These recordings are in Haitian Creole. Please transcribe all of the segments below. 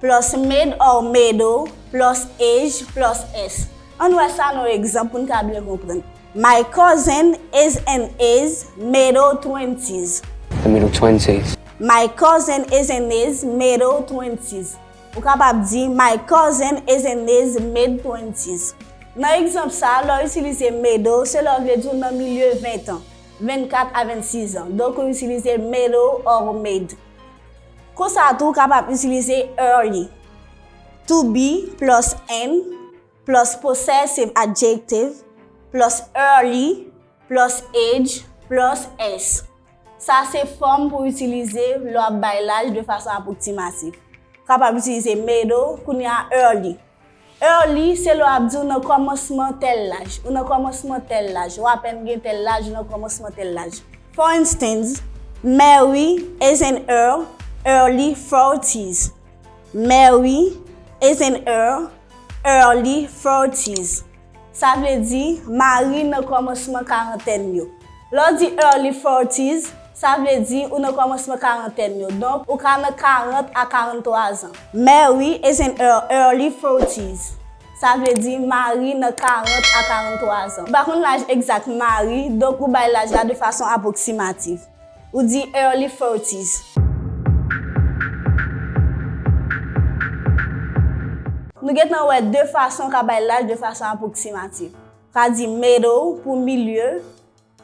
Plus made or mado, plus age, plus s. Ann wè sa nan yon egzanp pou n ka byen konprann. My cousin is in his mado twenties. The middle twenties. My cousin is in his mado twenties. Ou kapab di, My cousin is in his mid twenties. Nan egzanp sa a, lè w itilize mado, se lè w vle di w nan milye ventan, 24 a 26 an. Donk ou itilize mado or made. Konsa tou ou kapab itilize er li. To be plus am plus possessive adjective plus early plus age plus s. Sa se fòm pou itilize lè w ap bay laj de fason apwoksimatif. Ou kapab itilize middle, kounye a early. Early, se lè w ap di ou nan kòmansman tèl laj. Ou nan kòmansman tèl laj. Ou apèn gen tèl laj, ou nan kòmansman tèl laj. For instance, Mary is in her early forties. Mary is in her early forties. Sa vle di, mari nan kòmansman karantèn yo. Lè w di early forties, sa vle di ou nan kòmansman karantèn yo. Donk, ou ka nan 40 a 43 zan. Marry is in her early forties. Sa vle di, mari nan 40 a 43 zan. Ou pa konn laj egzak mari, donk ou bay laj la de fason apwoksimativ. Ou di early forties. Nou gentan wè de fason ka bay laj de fason apwoksimatif. Ka di middle pou milye,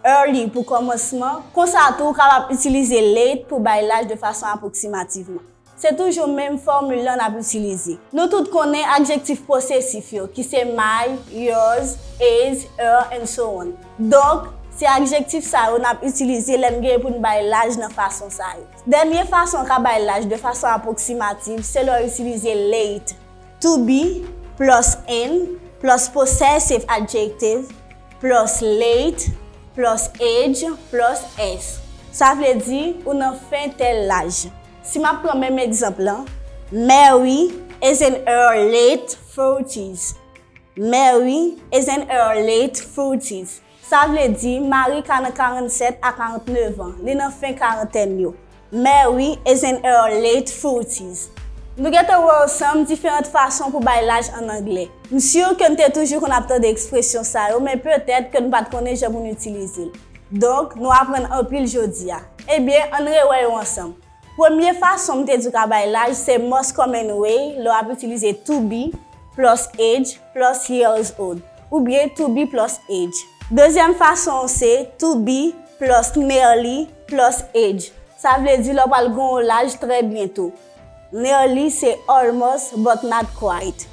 early pou kòmansman, konsa tou ou kapab itilize late pou bay laj de fason apwoksimativman. Se toujou menm fòmil lan n ap itilize. Nou tout konnen adjektif posesif yo, ki se my, yours, is, ur, and so on. Donk, se adjektif sa yo n ap itilize lè n gen pou n bay laj nan fason sa yo. Dènye fason w ka bay laj de fason apwoksimativ se lè w itilize late. To be plus in plus possessive adjective plus late plus age plus s. Sa vle di, ou nan fen tèl laj. Si m ap pran menm egzanp lan, Mary is in her late thirties. Mary is in her late thirties. Sa vle di, Mary ka nan 47 a 49 an. Li nan fen karantèn yo. Mary is in her late thirties. Nou gen te wè ansanm diferant fason pou bay laj an angle. M sur ke n te toujou konn ap tande ekspresyon sa yo, men petèt ke n pa t konnen jan pou n itilize l. Donk, nou aprann anpil jodi a. Ebyen, ann rewè yo ansanm. Premye fason m te di w ka bay laj se most common way lè w ap itilize to be plus age plus years old oubyen to be plus age. Dezyèm fason an se to be plus nearly plus age. Sa vle di lè w pral gen yon laj trè byento. Nearly se almost but not quite.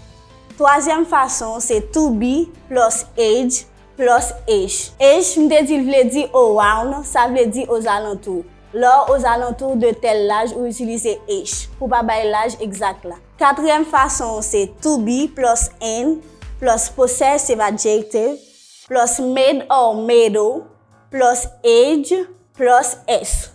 Twazyèm fason an se to be plus age. Plus H. H, M te di l vle di around, sa vle di ozalantou. Lè w ozalantou de tèl laj ou itilize H, pou pa bay laj egzak la. Katriyèm fason an se to be plus in plus possessive adjective plus made or made ou plus age plus s.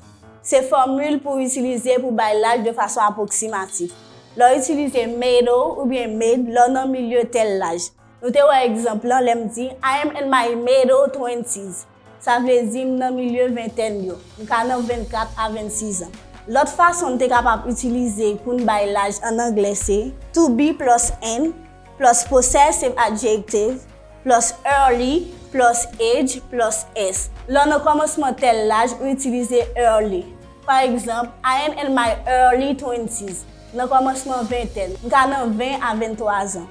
Se fòmil pou w itilize pou bay laj de fason apwoksimatif. Lè w itilize made ou oubyen made lè w nan milye tèl laj. Nou te wè egzanp lan lè m di, I am in my middle twenties. Sa vle di m nan milye ventèn yo. M ka nan 24 a 26 an. Lòt fason n te kapab itilize pou n bay laj ann anglè se, to be plus in plus possessive adjective plus early plus age plus s. Lè w nan kòmansman tèl laj, ou itilize early. Pa egzanp, I am in my early twenties, nan kòmansman ventèn. M ka nan 20 a 23 zan.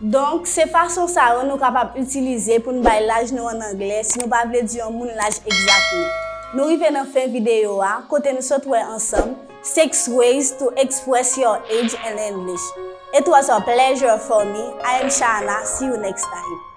Donk, se fason sa yo nou kapab itilize pou n bay laj nou an angle si nou pa vle di yon moun laj egzat nou. Nou rive nan fen videyo a, kote n sot wè ansanm, 6 ways to express your age in English. It was a pleasure for me, I am Shaana, see you next time.